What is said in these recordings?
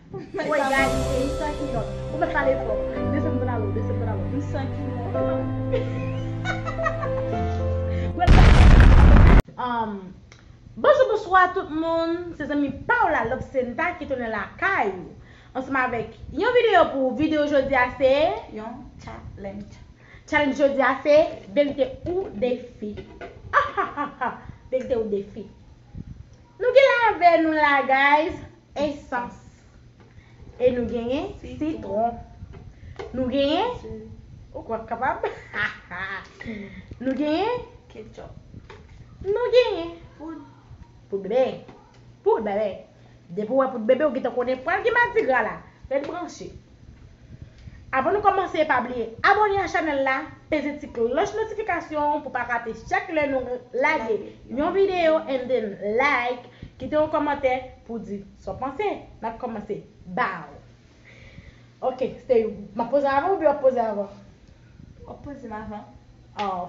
Woy gad yon peyi san kilòt. Ou mèt pale fò. Desann pantalon w, desann pantalon w. M san kilòt. Bonjou bonswa tout moun se zanmi paw la lobsenta ki tounen lakay ou ansanm avèk yon videyo pou ou videyo jodia se yon challenge challenge jodia se verite ou defi ahahahha verite ou defi nou gen la avè nou la guys. Esans. E nou genyen sitwon. Nou genyen. Ou kwè m kapab? Nou genyen. Ketchup. Nou genyen. Poud. Poud bebe. Poud bebe. Depi w wè poud bebe ou gentan konnen pral gen madigra la. Ret branche. Avan nou kòmanse pa bliye abòne a chanèl la, peze ti klòch notifikasyon an pou pa rate chak lè nou lage yon videyo and then like, kite yon kòmantè pou w di sa w panse. N ap kòmanse baww. Ok Stay, m ap poze avan oubyen w ap poze avan? W ap poze m avan. Aww.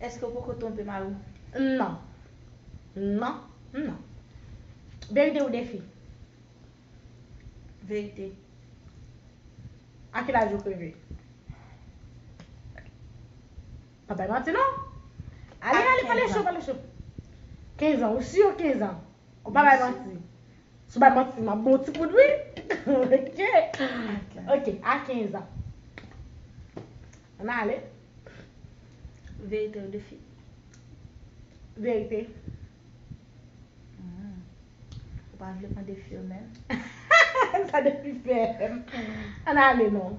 Eske ou poko twonpe mari w? Non. Non. Non. Verite ou defi? Verite. A ki laj ou kreve? Pa bay manti non. Ale ale pale cho pale cho. Kenzan ou sur kenzan? Ou pa bay manti. Sou bay manti map bon ti poud wi ok ok a 15 ans an ale. Verite ou defi. Verite. Ou pa vle pran defi yo menm. Sa defi fè. An ale non.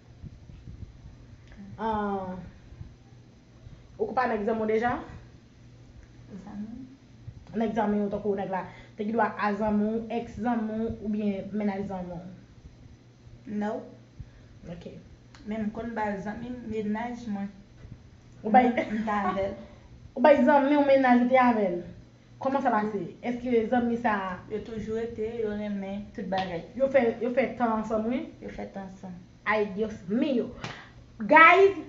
Ou konn pa nan egzamen w deja? Nan egzamen w tankou nèg la te gen dwa a zanmi w, ex zanmi w oubyen mennaj zanmi w? No. Ok. Men m konn ba zanmi m mennaj mwen. Ou bay zanmi w mennaj ou te avè l? Koman sa pase? Eske zanmi sa a. Yo toujou rete, yo renmen tout bagay. Yo fè yo fè tan ansanm wi. Yo fè tan ansanm. Ay Dios mio. Guys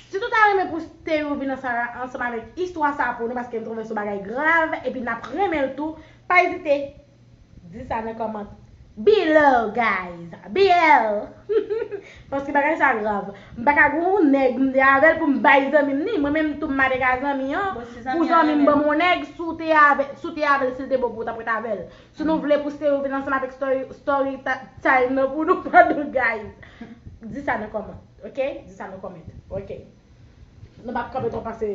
Si nou ta renmen pou Sthéo vin an Sarah ansanm avèk istwa sa pou nou paske m trouve son bagay grav epi nap renmenl tou pa ezite. Di sa nan comment below guys bl paske bagay sa grav m paka gen yon nèg m te avèl pou m bay zanmi m ni mwen menm tou m mare ka zanmi an pou zanmi m ban m yon nèg si w te avèl si w te avèl si l te bon pou ou tap ret avèl si nou vle pou stery vin ansanm avèk story time nan pou nou padon guys di sa nan comment ok di sa nan comment ok nou pap kanpe twòp pase.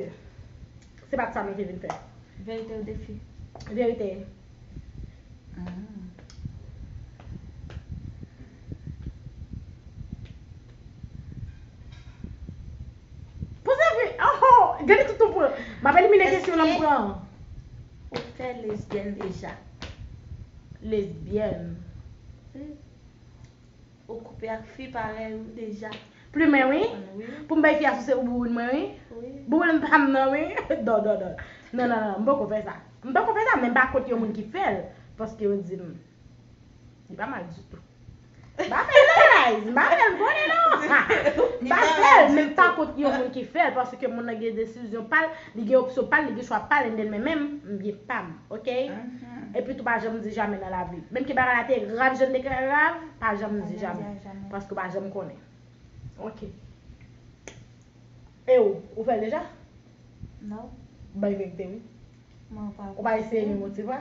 Se pat sa mwen te vin fè. Verite ou defi? Verite. Poze vre. Oho! Gade tout ton pran. M ap elimine kesyon nan m pran an. Eske ou fè lesbyèn deja? Lesbyèn. Wi. Ou koupe ak fi parèy ou deja. Plumen wi. Pou m bay fi a souse pou bouboun mwen wi. Bouboun pa m nan wi. Dò dò dò. Non non non m poko fè sa. M poko fè sa men m pa kont yon moun ki fè l. Paske yo di m. Li pa mal ditou. M pa fè l non guys. M pa fè l konnen non. M pa fè l men m pa kont yon moun ki fè l paske moun nan gen desizyon pa l. Li gen opsyon pal li gen chwa pal and then men menm m gen pam ok epi tou pa janm di jamè nan lavi menm ke bagay la te grav jan l te grav pa janm di jamè paske w pa janm konnen ok e ou ou fè l deja? Non. Bay vérité wi. Mwen pa vle. Ou pa eseye menm ou ti vwa.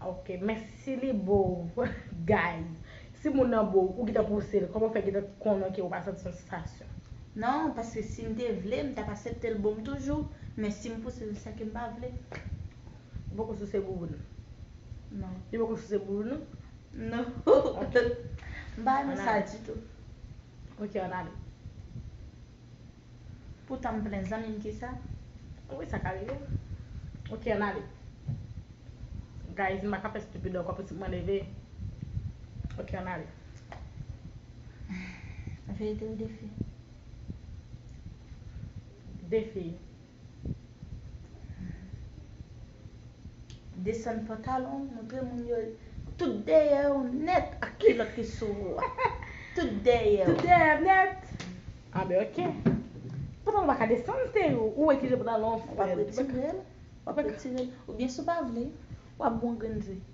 Ok men si li bo ou guys si moun nan bo ou ou gentan pouse l koman ou fè gentan konnen ke ou pa santi yon sansasyon. Non paske sim te vle m tap asepte l boum toujou men sim pouse l sa kem pa vle. Ou poko souse bouboun ou? Non. Li poko souse bouboun ou? Non. Ok. M pa renmen sa ditou. Ok an ale. Poutan m plen zanmi m kisa ou wè sa ka rive m ok ann ale guys m pa ka fè stupid ankò pitit mwen leve ok ann ale. Verite ou defi? Defi. Desann pantalon w montre moun yo tout dèyè w nèt ak kilòt ki sou ou a. Tout dèyè w. Tout dèyè m nèt. A ben ok. Pantalon w pa ka desann l se ou ou wè ki jan pantalon an fèt. Ou pa pou etire l. Ou pa pou etire l. Oubyen si w pa vle, w ap bon grenn di.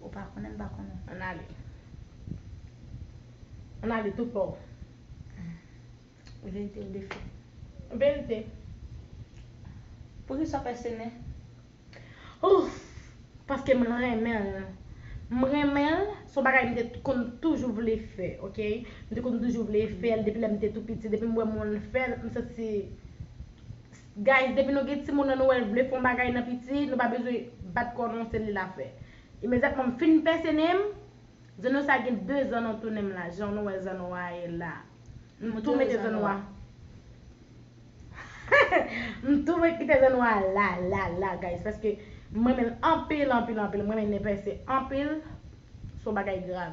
Ou pa konnen m pa konnen. Ann ale. Ann ale tout paw. Vérité ou defen. Vérité. Poukisa w fè sene? Ouff! Paske m renmen l. M renmen l, s on bagay m te konn toujou vle fè, ok. M te konn toujou vle fè l depi lè m te tou piti. Depi m wè moun fè l, m santi Guys depi nou gen timoun an nou wèl vle fon bagay nan piti nou pa bezwen bat kò non se li la fè imedyatman m fin pèse nen m zanno sa gen 2 zan non tou nen m la jan nou wè zanno a ye la m tou mete zanno a m tou met kite zanno a la la la guys paske m renmen l anpil anpil anpil m renmen nen pèse anpil son bagay grav.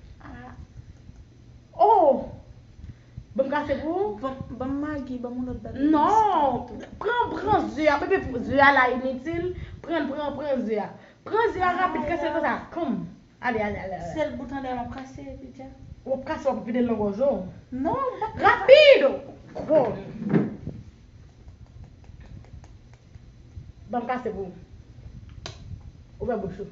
Ah oh Ban m kafe pou ou? Ban m magi, ban m yon lòt bagay. Non, pran, pran ze a, bebe ze a la initil, pran, pran, pran ze a. Pran ze a rapid kase l konsa, komm. Ale, ale, ale, ale. Sèl bout anndan an m ap kase epi dja. W ap kase w ap vide l nan gòj ou. Non, m p ap. Rapid! Komm. Ban m kase pou ou. Ouvè bouch ou.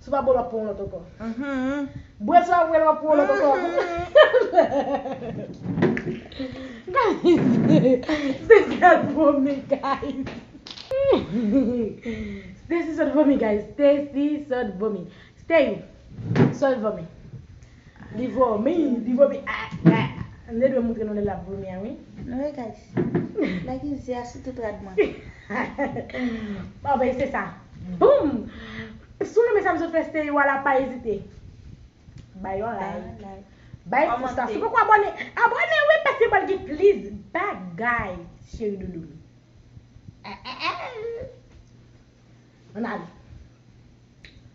Sou pa bo lap pran yon lòt ankò. Bwè sou aprè lap pran yon lòt ankò. Stessie se sèl pou mi guys. Stessie sòt vomi guys. Stessie sòt vomi. Steyou sòt vomi. Li vomi li vomi ah ah. M te dwe moutre nou lè lap vomi an wi. Nou we kay si. Nèg izi a sou tout rad mwen. Bon ben se sa. Boom! Si w renmen sa m sot fè Steyou a la pa ezite bay yon like, bay pous la si w poko abòne abòne wi paske pral gen plis bagay cheri doudou m. Ann ale.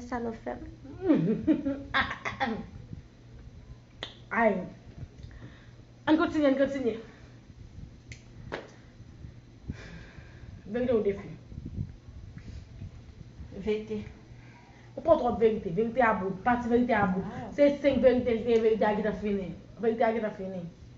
Gade sa nou fè m. Ay. Ann kontinye, ann kontinye. Verite ou defi. Verite. Ou pran trop verite. Verite a bout. Pati verite a bout. Se 5 verite li te ye verite a gentan fini. Verite a gentan fini.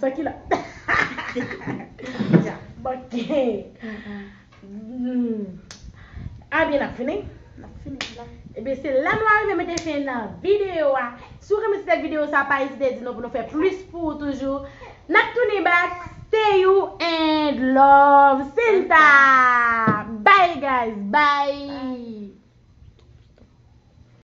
Sa ki la Ya manke A byen nap fini Nap fini la Ebyen se la nou arive mete fen nan video a Si w renmen ti tèt video sa pa ezite di nou pou nou fè plis pou ou toujou Nap tounin back Stay you and love Senta Bye guys bye